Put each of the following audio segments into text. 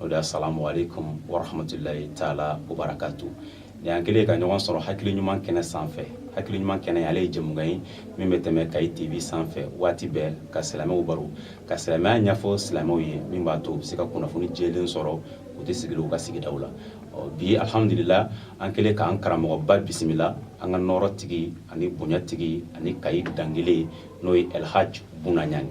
asalamu alekum warahamatulayi taala wa barakatu nin an kɛlen ka ɲɔgɔn sɔrɔ hakili ɲuman kɛnɛ sanfɛ hakili ɲuman kɛnɛ ale ye jɛmukan ye min bɛ tɛmɛ kayi tv sanfɛ waati bɛɛ ka silamɛw baro ka silamɛya ɲɛfɔ silamɛw ye min b'a to u bɛ se ka kunnafoni jɛlen sɔrɔ u to sigilen u ka sigidaw la bi alhamdulila an kɛlen k'an karamɔgɔba bisimila an ka nɔɔrɔ tigi ani bonya tigi ani kayi dankelen n'o ye elhaj bunaɲani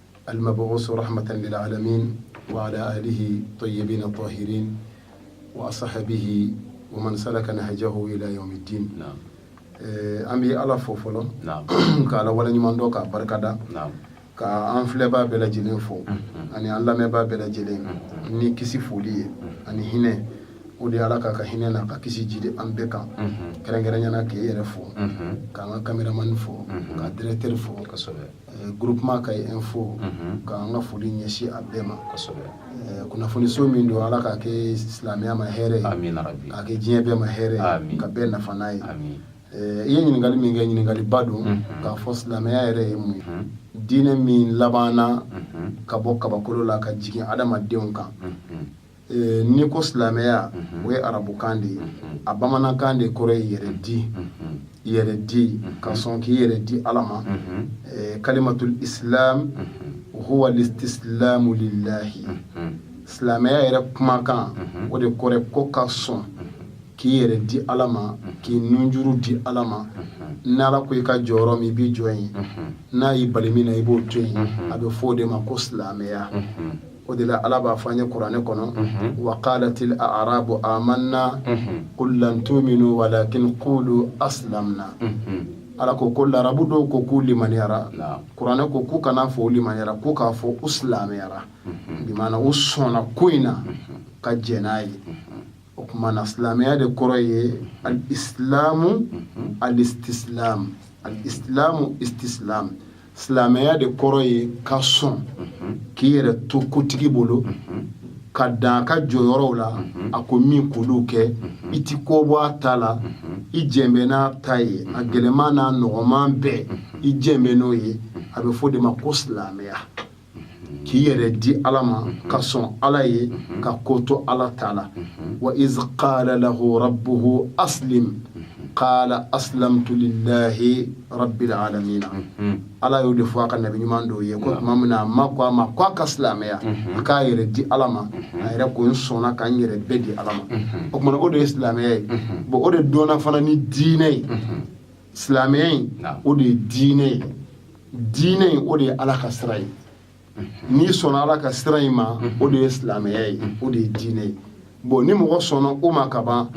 alimabusi rahamatan lilalamin wa ala alihi tayibina tahirin wa asahabihi wa man salaka nahajahu ila yawumi din an bɛ ala fo fɔlɔ k' ala wale ɲuman dɔn k'a barika da k' an filɛbaa bɛɛ lajɛlen fo ani an lamɛnbaa bɛɛ lajɛlen ni kisi foli ye ani hinɛ o de ala k'a ka hinɛ n'a ka kisi jigin an bɛɛ kan kɛrɛnkɛrɛnnenya na k'i yɛrɛ fo k'an ka cameraman fo ka directeur fo Groupement kayi in fo k'an ka foli ɲɛsin a bɛɛ ma kunnafoniso min don ala k'a kɛ silamɛya ma hɛrɛ ye k'a kɛ diɲɛ bɛɛ ma hɛrɛ ka bɛɛ nafa n'a ye i ye ɲininkali min kɛ ɲininkaliba don k'a fɔ silamɛya yɛrɛ ye mun diinɛ min laban ka bɔ kabakolo la ka jigin adamadenw kan N'i ko silamɛya o ye arabukan de ye a bamanankan de kɔrɔ ye yɛrɛ di yɛrɛ di ka sɔn k'i yɛrɛ di ala ma kalimatul isilamu huwa lisitisilamu lilahi silamɛya yɛrɛ kumakan o de kɔrɔ ko ka sɔn k'i yɛrɛ di ala ma k'i nunjuru di ala ma n'ala ko i ka jɔ yɔrɔ min i bɛ jɔ yen n'a y'i bali min na i b'o to yen a bɛ fɔ o de ma ko silamɛya o de la ala b'a fɔ an ye kuranɛ kɔnɔ wa kalatil arabu amana kul lam tuminu walakin kulu asilamuna ala ko ko larabu dɔw ko k'u limaniyara kuranɛ ko k'u kana a fɔ u limaniyara ko u k'a fɔ u silamɛyara bi u sɔnna ko in na ka jɛn n'a ye o tuma na silamɛya de kɔrɔ ye alisilamu alisitisilamu alisilamu isitisilamu silamɛya de kɔrɔ ye ka sɔn k'i yɛrɛ to kotigi bolo ka dan ka jɔyɔrɔw la a ko min k'olu kɛ i ti ko bɔ a ta la i jɛn bɛ n'a ta ye a gɛlɛman n'a nɔgɔman bɛɛ i jɛn bɛ n'o ye a bɛ fɔ o de ma ko silamɛya k'i yɛrɛ di ala ma ka sɔn ala ye ka ko to ala ta la wa izi kala lahu rabuhu asilimu kala asilamutu lilahi rabilalamina ala y'o de fɔ a ka nabi ɲuman dɔ ye ko tuma min na a ma ko a ma ko a ka silamɛya a k'a yɛrɛ di ala ma a yɛrɛ ko n sɔnna ka n yɛrɛ bɛɛ di ala ma o tuma na o de ye silamɛya ye bon o de dɔnna fana ni diinɛ ye silamɛya in o de ye diinɛ ye diinɛ in o de ye ala ka sira ye n'i sɔnna ala ka sira in ma o de ye silamɛya ye o de ye diinɛ ye bon ni mɔgɔ sɔnna o ma ka ban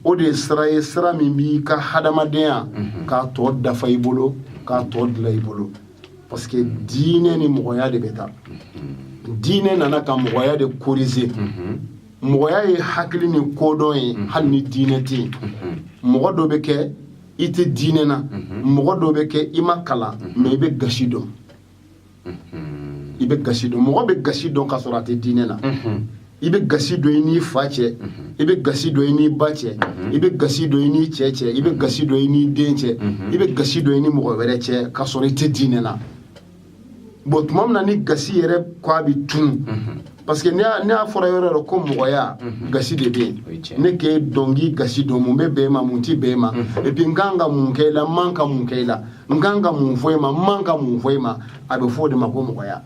o de ye sira ye sira min b'i ka hadamadenya k'a tɔ dafa i bolo k'a tɔ dilan i bolo parce que diinɛ ni mɔgɔya de bɛ taa diinɛ nana ka mɔgɔya de korize mɔgɔya ye hakili ni kodɔn ye mhm. hali ni diinɛ tɛ yen mhm. mɔgɔ dɔ bɛ kɛ i tɛ diinɛ na mhm. mɔgɔ dɔ bɛ kɛ i ma kalan mɛ i bɛ gasi dɔn i bɛ gasi dɔn mɔgɔ bɛ gasi dɔn ka sɔrɔ a tɛ diinɛ na i bɛ gasi dɔn i n'i fa cɛ i bɛ gasi dɔn i n'i ba cɛ i bɛ gasi dɔn i n'i cɛ cɛ i bɛ gasi dɔn i n'i den cɛ i bɛ gasi dɔn i ni mɔgɔ wɛrɛ cɛ ka sɔrɔ i tɛ diinɛ na bɔn tuma min na ni gasi yɛrɛ ko a bɛ tunu parce que n'a fɔra yɔrɔ yɔrɔ ko mɔgɔya mhm. gasi de bɛ yen ne k'e dɔn k'i gasi dɔn mun bɛ bɛn e ma mun tɛ bɛn e ma mhm. et puis n kan ka mun kɛ i la n man ka mun kɛ i la n kan ka mun fɔ i ma n man ka mun fɔ i ma a bɛ fɔ o de ma ko mɔgɔya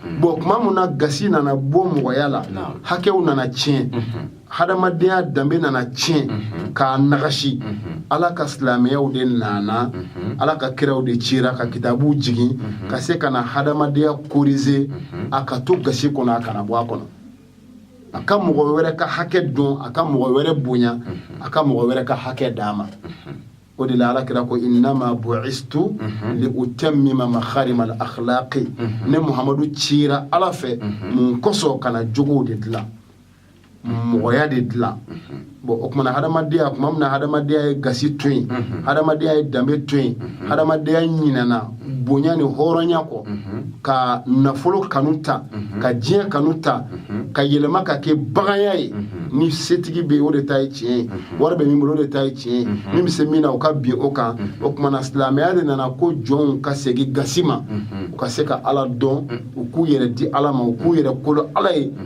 mhm. bɔn tuma min na gasi nana bɔ mɔgɔya la hakɛw nana tiɲɛ hadamadenya danbe nana tiɲɛ mhm. k'a nagasi mhm. ala ka silamɛyaw de nana mhm. ala ka kiraw de cira ka kitabuw jigin ka se ka na hadamadenya korize a ka to gasi kɔnɔ a kana bɔ a kɔnɔ a ka mɔgɔ wɛrɛ ka hakɛ dɔn a ka mɔgɔ wɛrɛ bonya a ka mɔgɔ wɛrɛ ka hakɛ d'a ma o de la ala kira ko innama buistu li utammima makarima al akhlaqi ne muhamadu cira ala fɛ mun kosɔn ka na jogow de dilan mɔgɔya de dilan bon o tuma na hadamadenya tuma min na hadamadenya ye gasi to yen hadamadenya ye danbe to yen hadamadenya ɲinɛna bonya ni hɔrɔnya kɔ ka nafolo kanu ta ka diɲɛ kanu ta ka yɛlɛma ka kɛ baganya ye ni setigi bɛ o de ta ye tiɲɛ ye wari bɛ min bolo o de ta ye tiɲɛ ye min bɛ se min na o ka bin o kan o tuma na silamɛya de nana ko jɔnw ka segin gasi ma u ka se ka ala dɔn u k'u yɛrɛ di ala ma u k'u yɛrɛ kolo ala ye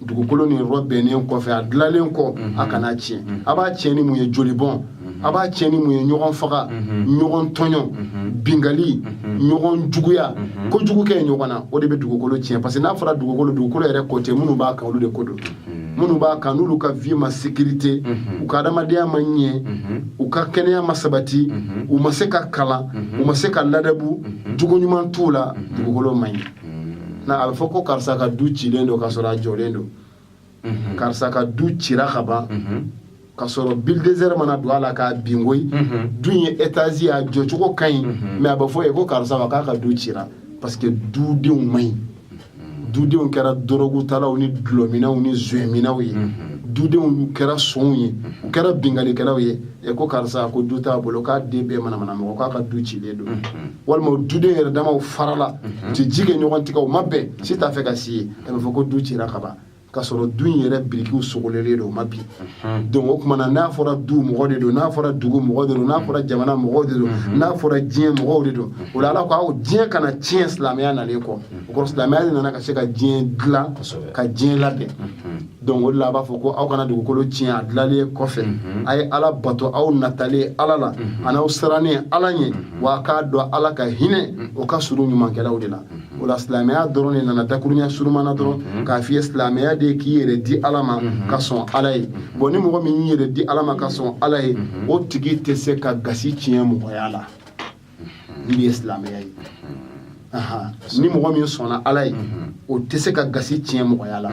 dugukolo nin rɔbɛnnen kɔfɛ a dilalen kɔ mhm. a kana tiɲɛ mhm. a b'a tiɲɛ ni mun ye jolibɔn mhm. a b'a tiɲɛ ni mun ye ɲɔgɔn faga ɲɔgɔn tɔɲɔ binkanni ɲɔgɔn juguya ko jugu kɛ ɲɔgɔn na o de bɛ dugukolo tiɲɛ parce que n'a fɔra dugukolo dugukolo yɛrɛ ko tɛ minnu b'a kan olu de ko don minnu b'a kan n'olu ka vie ma sécurité u ka adamadenya ma ɲɛ u ka kɛnɛya ma sabati u ma se ka kalan u ma se ka ladabu jogo ɲuman t'u la dugukolo man ɲi a bɛ fɔ ko karisa ka du cilen don ka sɔrɔ a jɔlen don karisa ka du cira ka ban ka sɔrɔ bulldozer ma na don a la k'a bin ko du ye etazi a jɔcogo ka ɲi mais a bɛ fɔ yen ko karisa k'a ka du ci parce que dudenw man ɲi dudenw kɛra dɔrɔgutalaw ni dɔlɔminnaw ni zominnaw ye dudenw kɛra sonw ye u kɛra binkalikɛlaw ye ɛ ko karisa ko du t'a bolo k'a den bɛɛ manamana mɔgɔ k'a ka du cilen don walima duden yɛrɛ damaw farala mhm. tɛ ji kɛ ɲɔgɔn tɛgɛ u ma bɛn si t'a fɛ ka si ye a bɛ fɔ ko du cira ka ban ka sɔrɔ du in yɛrɛ birikiw sogolelen don o ma bin mhm. donc o tuma na n'a fɔra du mɔgɔ de don n'a fɔra dugu mɔgɔ de don n'a fɔra jamana mɔgɔw de don mhm. n'a fɔra diɲɛ mɔgɔw de don o la ala ko aw diɲɛ kana tiɲɛ silamɛya nalen kɔ o kɔrɔ silamɛya de nana ka se ka diɲɛ dilan ka diɲɛ labɛn donc o de la a b'a fɔ ko aw kana dugukolo tiɲɛ a dilanlen kɔfɛ mhm. a ye ala bato aw natalen ala la mhm. an'aw sirannen ala ɲɛ mhm. wa k'a dɔn ala ka hinɛ o ka surun ɲumankɛlaw de la o la silamɛya dɔrɔn de nana dakurunya surunman na dɔrɔn k'a f'i ye silamɛya de k'i yɛrɛ di ala ma ka sɔn ala ye bɔn ni mɔgɔ min y'i yɛrɛ di ala ma ka sɔn ala ye o tigi tɛ se ka gasi tiɲɛ mɔgɔya la min ye silamɛya ye ni mɔgɔ min sɔnna ala ye o tɛ se ka gasi tiɲɛ mɔgɔya la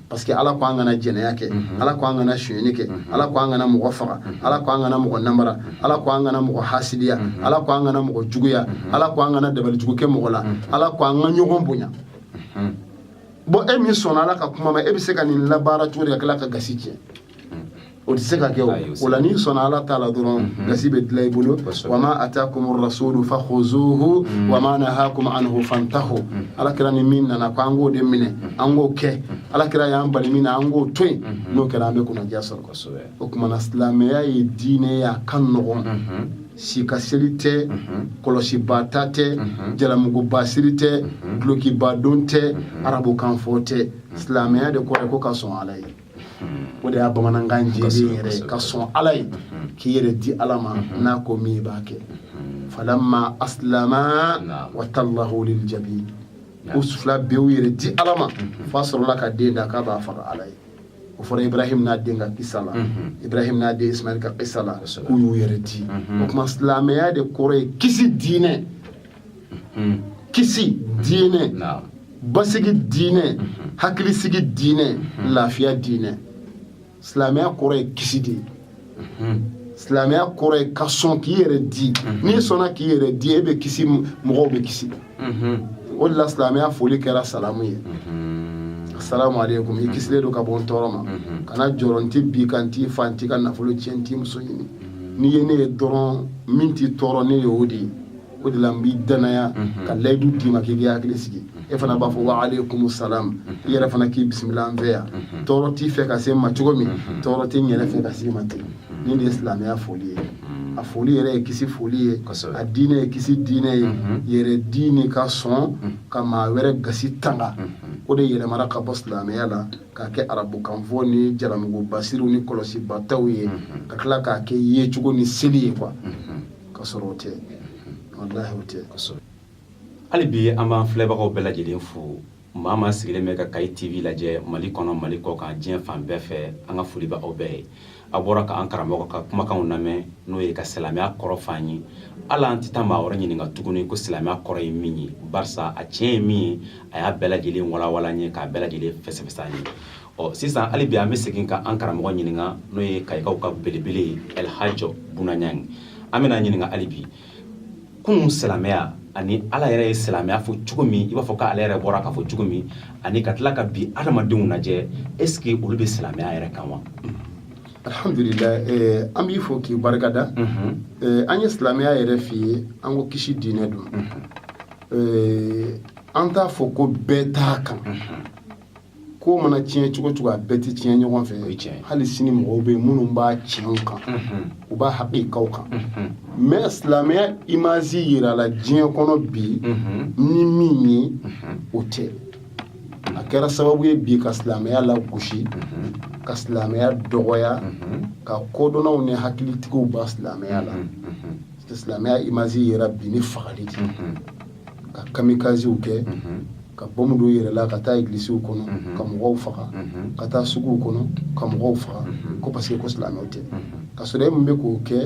parce que ala ko an kana jɛnɛya kɛ ala ko an kana sonyɛni kɛ ala ko an kana mɔgɔ faga ala ko an kana mɔgɔ namara ala ko an kana mɔgɔ hasidiya ala ko an kana mɔgɔ juguya ala ko an kana dabali jugu kɛ mɔgɔ la ala ko an ka ɲɔgɔn bonya bɔn e min sɔnna ala ka kuma ma e bɛ se ka nin labaara cogo di ka tila ka gasi tiɲɛ o tɛ se ka kɛ o la n'i sɔnna ala ta la dɔrɔn mhm. gasi bɛ dilan i bolo wa ma atakum rasulu fakhuzuhu mhm. wa ma nahakum anhu fantahu mhm. ala kira ni min nana ko an k'o de minɛ an k'o kɛ ala kira y'an bali min na an k'o to yen n'o kɛra an bɛ kunnandiya sɔrɔ kosɛbɛ o tuma na silamɛya ye diinɛ ye a ka nɔgɔn si ka seli tɛ kɔlɔsiba ta tɛ jalamuguba siri tɛ dulokiba don tɛ arabukanfɔ tɛ silamɛya de kɔrɔ ko ka sɔn ala ye o de y'a bamanankan jɛ yɛrɛ ka sɔn ala ye k'i yɛrɛ di ala ma n'a ko min i b'a kɛ falama aslama wa tallahu lil jabin k'u fila bɛɛ y'u yɛrɛ di ala ma fa sɔrɔla ka den da k'a b'a faga ala ye o fɔra ibrahim n'a den ka kisa la ibrahim n'a den ismail ka kisa la k'u y'u yɛrɛ di o tuma silamɛya de kɔrɔ ye kisi diinɛ kisi diinɛ basigi diinɛ hakilisigi diinɛ lafiya diinɛ silamɛya kɔrɔ ye kisi de ye silamɛya kɔrɔ ye ka sɔn k'i yɛrɛ di n'i sɔnna k'i yɛrɛ di e bɛ kisi mɔgɔw bɛ kisi o de la silamɛya foli kɛra salamu ye asalamu aleykum i kisilen don ka bɔ n tɔɔrɔ ma kana jɔrɔ n tɛ bin i kan n t'i faga n t'i ka nafolo tiɲɛ n t'i muso ɲini n'i ye ne ye dɔrɔn min t'i tɔɔrɔ ne ye o de ye o de la n b'i danaya ka layidu d'i ma k'i k'i hakili sigi e fana b'a fɔ wa aleykum salam i yɛrɛ fana k'i bisimila an fɛ yan tɔɔrɔ t'i fɛ ka se n ma cogo min tɔɔrɔ tɛ n yɛrɛ fɛ ka s'i ma ten nin de ye silamɛya foli ye a foli yɛrɛ ye kisi foli ye a diinɛ ye kisi diinɛ ye yɛrɛdi ni ka sɔn ka maa wɛrɛ gasi tanga o de yɛlɛmara ka bɔ silamɛya la k'a kɛ arabukanfɔ ni jalamugubasiriw ni kɔlɔsibataw ye ka tila k'a kɛ yecogo ni seli ye quoi ka sɔrɔ o tɛ walahi o tɛ kosɛbɛ hali bi an b'an filɛbagaw bɛɛ lajɛlen fo maa o maa sigilen bɛ ka kayi tv lajɛ mali kɔnɔ mali kɔkan diɲɛ fan bɛɛ fɛ an ka foli bɛ aw bɛɛ ye a bɔra ka an karamɔgɔ ka kumakanw lamɛn n'o ye ka silamɛya kɔrɔ f'an ye ala an tɛ taa maa wɛrɛ ɲininka tuguni ko silamɛya kɔrɔ ye min ye barisa a tiɲɛ ye min ye a y'a bɛɛ lajɛlen walawala an ye k'a bɛɛ lajɛlen fɛsɛfɛsɛ an ye ɔ sisan hali bi an bɛ segin ka an karamɔgɔ ɲininka n'o ye kayikaw ka belebele ye elhajɔ buna ɲangi an bɛn'a ɲininka hali bi kunun silamɛya ani ala yɛrɛ ye silamɛya fɔ cogo min i b'a fɔ k'ale yɛrɛ bɔra k'a fɔ cogo min ani ka tila ka bi adamadenw lajɛ est ce que olu bɛ silamɛya yɛrɛ kan wa alhamdulillah eh, an b'i fo k'i barika da eh, an ye silamɛya yɛrɛ f'i ye an ko kisi diinɛ don eh, an t'a fɔ ko bɛɛ t'a kan ko mana tiɲɛ cogo o cogo a bɛɛ tɛ tiɲɛ ɲɔgɔn fɛ hali sini mɔgɔw bɛ minnu b'a tiɲɛw kan u b'a hakikaw kan mais silamɛya imazi yirala diɲɛ kɔnɔ bi ni min ye o tɛ a kɛra sababu ye bi ka silamɛya lagosi ka silamɛya dɔgɔya ka kodɔnnaw ni hakilitigiw bɔ silamɛya la silamɛya imazi yira bi ni fagali de ka kamikaziw kɛ ka bɔnbu don u yɛrɛ la ka taa egilisiw kɔnɔ ka mɔgɔw faga ka taa suguw kɔnɔ ka mɔgɔw faga ko parce que ko silamɛw tɛ ka sɔrɔ e min bɛ k'o kɛ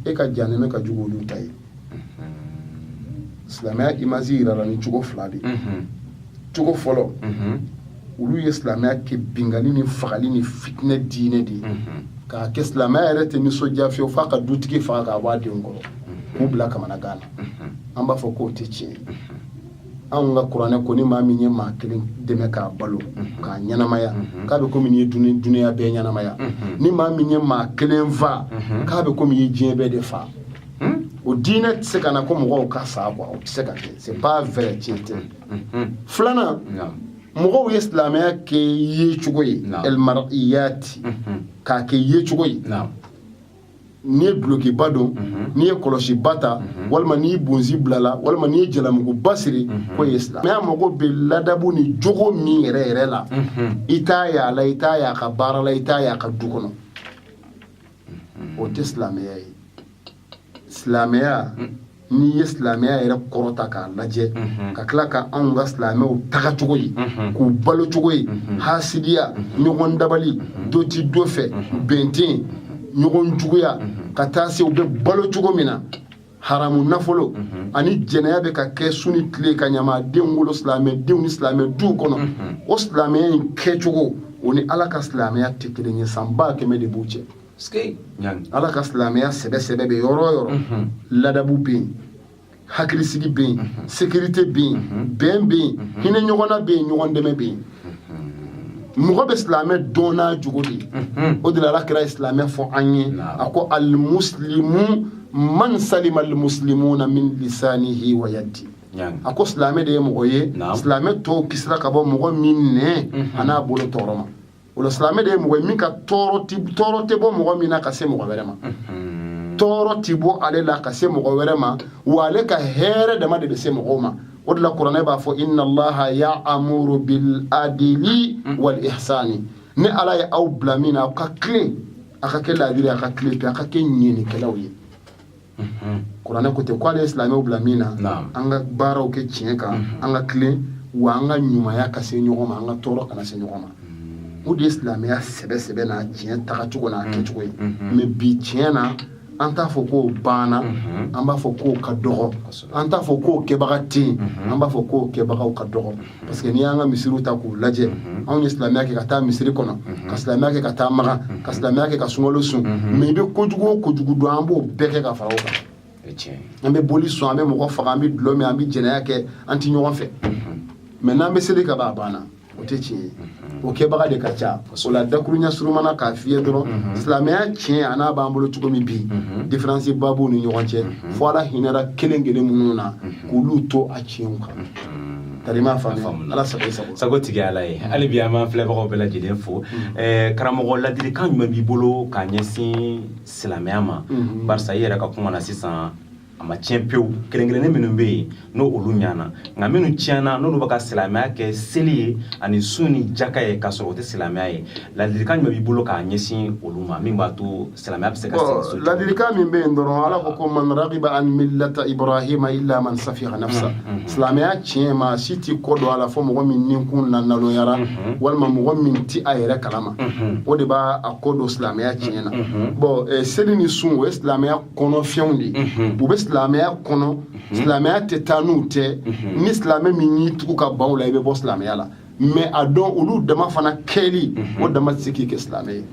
e ka jahanama ka jugu olu ta ye silamɛya imazi yirala ni cogo fila de cogo fɔlɔ olu ye silamɛya kɛ binkanni ni fagali ni fitinɛ diinɛ de ye k'a kɛ silamɛya yɛrɛ tɛ nisɔndiya fiyewu f'a ka dutigi faga k'a bɔ a denw kɔrɔ k'u bila kamanagan na an b'a fɔ k'o tɛ tiɲɛ ye anw ka kuranɛ ko ni maa min ye maa kelen dɛmɛ k'a balo k'a ɲɛnamaya k'a bɛ komi i ye dunuya bɛɛ ɲɛnamaya ni maa min ye maa kelen fa k'a bɛ komi i ye diɲɛ bɛɛ de fa o diinɛ tɛ se ka na ko mɔgɔw ka sa quoi o tɛ se ka kɛ c'est pas vrai tiɲɛ tɛ filanan mɔgɔw ye silamɛya kɛ yecogo ye elmariyati k'a kɛ yecogo ye n'i ye dulokiba don n'i ye kɔlɔsiba ta walima n'i bonsi bilala walima n'i ye jalamuguba siri k'o ye silamɛ mais mago bɛ ladabu ni jogo min yɛrɛ yɛrɛ la i t'a y'a la i t'a y'a ka baara la i t'a y'a ka du kɔnɔ o tɛ silamɛya ye silamɛya mm. n'i ye silamɛya yɛrɛ kɔrɔta k'a lajɛ mm-hmm. ka tila ka anw ka silamɛw taga cogo ye mm-hmm. k'u balo cogo ye mm-hmm. hasidiya ɲɔgɔn dabali dɔ ti dɔ fɛ bɛn tɛ yen ɲɔgɔn juguya ka taa se u bɛ balo cogo min na haramu nafolo ani jɛnɛya bɛ ka kɛ su ni tile ka ɲamadenw wolo silamɛdenw ni silamɛ duw kɔnɔ o silamɛya in kɛcogo o ni ala ka silamɛya tɛ kelen ye san ba kɛmɛ de b'u cɛ ala ka silamɛya sɛbɛsɛbɛ bɛ yɔrɔ o yɔrɔ ladabu bɛ yen hakilisigi bɛ yen sekirite bɛ yen bɛn bɛ yen hinɛ ɲɔgɔn na bɛ yen ɲɔgɔn dɛmɛ bɛ yen mɔgɔ bɛ silamɛ dɔn n'a jogo de ye o de la ala kira ye silamɛ fɔ an ye a ko alimusilimu man salima alimusilimuna min lisanihi wa yadi a ko silamɛ de ye mɔgɔ ye silamɛ tɔw kisira ka bɔ mɔgɔ min nɛn a n'a bolo tɔɔrɔ ma o la silamɛ de ye mɔgɔ ye min ka tɔɔrɔ ti tɔɔrɔ tɛ bɔ mɔgɔ min na ka se mɔgɔ wɛrɛ ma tɔɔrɔ ti bɔ ale la ka se mɔgɔ wɛrɛ ma wa ale ka hɛrɛ dama de bɛ se mɔgɔw ma o de la kuranɛ b'a fɔ inna allaha ya'muru bil adili wal ihsani ne ala ye aw bila min na aw ka tilen a ka kɛ laadiri a ka tilen pe a ka kɛ ɲɛnikɛlaw ye kuranɛ ko ten ko ala ye silamɛw bila min na an ka baaraw kɛ tiɲɛ kan an ka tilen wa an ka ɲumanya ka se ɲɔgɔn ma an ka tɔɔrɔ kana se ɲɔgɔn ma o de ye silamɛya sɛbɛ sɛbɛ n'a tiɲɛ tagacogo n'a kɛcogo ye mɛ bi tiɲɛ na an t'a fɔ k'o banna an b'a fɔ k'o ka dɔgɔ an t'a fɔ k'o kɛbaga tɛ yen an b'a fɔ k'o kɛbagaw ka dɔgɔ parce que n'i y'an ka misiriw ta k'u lajɛ mhm. anw ye silamɛya kɛ ka taa misiri kɔnɔ mhm. ka silamɛya kɛ ka taa maga mhm. ka silamɛya kɛ ka sunkalo sun mɛ i bɛ kojugu o kojugu dɔn an b'o bɛɛ kɛ ka fara o kan an bɛ boli sɔn an bɛ mɔgɔ faga an bɛ dulɔ min an bɛ jɛnɛya kɛ an tɛ ɲɔgɔn fɛ mɛ n'an bɛ seli ka ban a banna o tɛ tiɲɛ ye o kɛbaga de ka ca o la dakuruɲa suruman na k'a f'i ye dɔrɔn mhm. silamɛya tiɲɛ a n'a b'an bolo cogo min bi mhm. diferansi ba b'u ni ɲɔgɔn cɛ mhm. fo ala hinɛra kelen kelen minnu na k'olu to a tiɲɛw kan tarima faamu ala sago sago sago tigi ala ye hali bi an b'an filɛbagaw bɛɛ lajɛlen fo eh, karamɔgɔ ladilikan jumɛn b'i bolo k'a ɲɛsin silamɛya ma barisa i yɛrɛ ka kuma na sisan a ma tiɲɛ pewu kelen-kelennin minnu bɛ yen n'olu ɲana nka minnu tiɲɛna n'olu bɛ ka silamɛya kɛ seli ye ani sun ni jaka ye k'a sɔrɔ o tɛ silamɛya ye ladilikan jumɛn b'i bolo k'a ɲɛsin olu ma min b'a to silamɛya bɛ se ka segin so ladilikan min bɛ yen dɔrɔn ala ko ko man ragiba an millata ibrahima illa man safiha nafsa mm, mm, mm. silamɛya tiɲɛ maa si t'i kɔ don a la fo mɔgɔ min ninkun naloyara mm-hmm. walima mɔgɔ min ti a yɛrɛ kalama mm-hmm. o de b'a kɔ don silamɛya tiɲɛ na mm-hmm. bɔn eh, seli ni sun o ye silamɛya kɔnɔfɛnw de u bɛ silamɛya kɔnɔ silamɛya tɛ taa n'u tɛ ni silamɛ min y'i tugu ka ban u la i bɛ bɔ silamɛya la mais a dɔn olu dama fana kɛli o dama tɛ se k'i kɛ silamɛ ye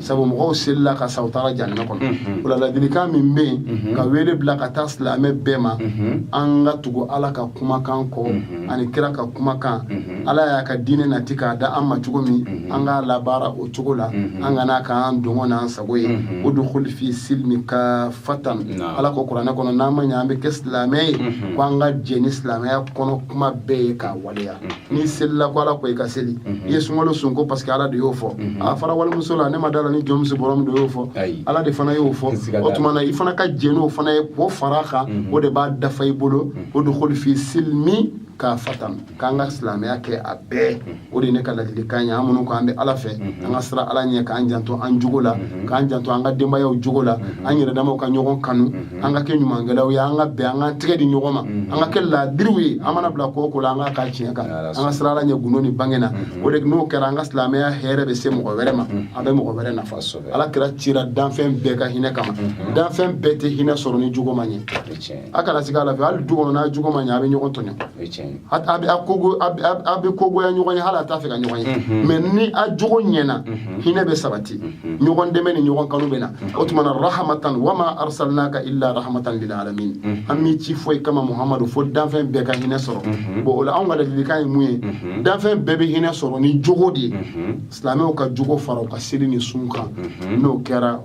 sabu mɔgɔw selila ka sa u taara jahanama kɔnɔ o la ladilikan min bɛ yen ka wele bila ka taa silamɛ bɛɛ ma an ka tugu ala ka kumakan kɔ ani kira ka kumakan ala y'a ka diinɛ nati k'a da an ma cogo min an k'a labaara o cogo la an kana k'an dungɔ n'an sa sago ye mhm. udkhulu fi silmi kaffatan ala ko kuranɛ kɔnɔ n'an ma ɲɛ an bɛ kɛ silamɛ ye mhm. ko an ka jɛn ni silamɛya kɔnɔ kuma bɛɛ ye k'a waleya mhm. n'i selila ko ala ko i ka seli i ye sunkalo sun ko parce que ala de y'o fɔ a fara walimuso la ne ma da la ni jɔnmuso bɔra min do y'o fɔ ala de fana y'o fɔ o tuma na i fana ka jɛn n'o fana ye k'o fara a kan o de b'a dafa i bolo udkhulu fi silmi kaffatan k'an ka silamɛya kɛ a bɛɛ o de ye ne ka ladilikan ye an minnu ko an bɛ ala fɛ an ka siran ala ɲɛ k'an janto an jogo la k'an janto an ka denbayaw jogo la an yɛrɛ damaw ka ɲɔgɔn kanu an ka kɛ ɲumankɛlaw ye an ka bɛn an ka tɛgɛ di ɲɔgɔn ma an ka kɛ laadiriw ye an mana bila ko o ko la an k'a kɛ tiɲɛ kan an ka siran ala ɲɛ gundo ni bange na o de n'o kɛra an ka silamɛya hɛrɛ bɛ se mɔgɔ wɛrɛ ma a bɛ mɔgɔ wɛrɛ nafa ala kira cira danfɛn bɛɛ ka hinɛ kama danfɛn bɛɛ tɛ hinɛ sɔrɔ ni jogo ma ɲɛ a kana siga a la hali du kɔnɔ n'a jogo ma ɲɛ a bɛ ɲɔgɔn tɔɲɔ a bɛ kogoya ɲɔgɔn ye hali a t'a fɛ ka ɲɔgɔn ye mhm. mais ni a jogo ɲɛna mhm. hinɛ bɛ sabati mhm. ɲɔgɔn dɛmɛ ni ɲɔgɔn kanu bɛ na o tuma na rahamatan wama arsalnaka illa rahamatan lil alamin an m'i ci foyi kama muhamadu fo danfɛn bɛɛ ka hinɛ sɔrɔ bon o la anw ka ladilikan ye mun ye danfɛn bɛɛ bɛ hinɛ sɔrɔ ni jogo de ye silamɛw ka jogo fara u ka seli ni sun kan n'o kɛra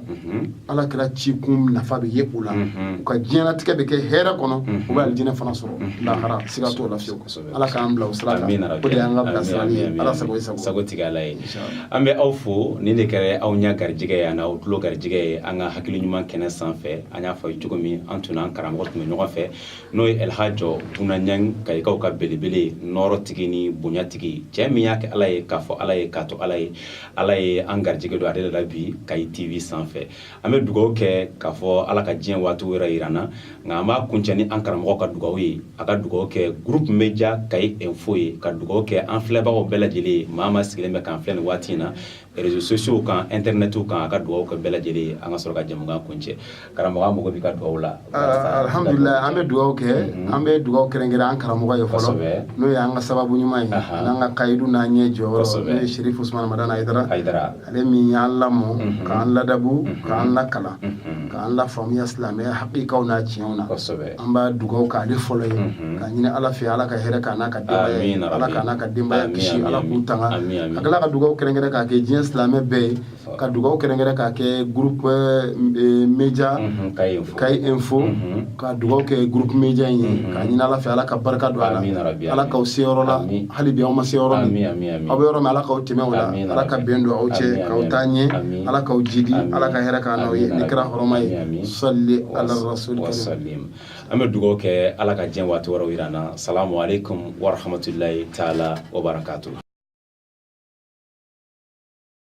ala kira ci kun nafa bɛ ye u la u ka diɲɛnatigɛ bɛ kɛ hɛrɛ kɔnɔ u bɛ alijinɛ fana sɔrɔ lahara siga t'o la fewu ala k'an bila sira de y'an ka bila sira ye ala sago sago tigi ala ye an bɛ aw fo nin de kɛra aw ɲɛ garijɛgɛ ye yan aw tulo garijɛgɛ ye an ka hakili ɲuman kɛnɛ sanfɛ an y'a fɔ cogo min an tun an karamɔgɔ tun bɛ ɲɔgɔn fɛ n'o ye alihaji buna ɲan kayikaw ka belebele nɔrɔ tigi ni bonyatigi cɛ min y'a kɛ ala ye k'a fɔ ala ye k'a to ala ye ala ye an garijɛgɛ don ale de la bi kayi tv sanfɛ an bɛ dugawu kɛ k'a fɔ ala ka diɲɛ waati wɛrɛ yira an na nka an b'a kuncɛ ni an karamɔgɔ ka dugawu ye a ka dugawu kɛ groupe media kayi info ye ka dugawu kɛ an filɛbagaw bɛɛ lajɛlen ye maa o maa sigilen bɛ k'an filɛ nin waati in na réseaux sociaux kan internet kan a ka dugawu kɛ bɛɛ lajɛlen ye an ka sɔrɔ ka jɛmukan kuncɛ Karamɔgɔ an b'i ka dugawu la alihamdulilahi an bɛ dugawu kɛ an bɛ dugawu kɛrɛnkɛrɛn an karamɔgɔ ye fɔlɔ n'o ye an ka sababu ɲuman ye n'an ka kayidu n'an ɲɛ jɔ n'o ye sherifu usumani madani hayidara ale min y'an lamɔ k'an ladabu k'an lakalan k'an lafaamuya silamɛ hakika n'a tiɲɛ na an bɛ dugawu k'ale fɔlɔ ye ka ɲini ala fɛ ala ka hɛrɛ k'a n'a ka ala k'a n'a ka denbaya kisi ala k'u tanga a ka dugawu kɛrɛnkɛrɛn k'a kɛ diɲɛ silamɛ bɛɛ ye ka dugaw kɛrɛnkɛrɛn k'a kɛ groupe euh, euh, media mhm, kayi info mhm. ka dugaw kɛ groupe media in ye mhm. k'a ɲini ala fɛ ala ka barika don a la ala k'aw se yɔrɔ la hali bi aw ma se yɔrɔ min aw bɛ yɔrɔ min ala k'aw tɛmɛ o la ala ka bɛn don aw cɛ k'aw taa ɲɛ ala k'aw jidi ala ka hɛrɛ k'an n'aw ye ni kira hɔrɔma ye salli ala rasul an bɛ dugaw kɛ ala ka diɲɛ waati wɛrɛw yir'an na salamu alaikum warahmatullahi taala wabarakatuh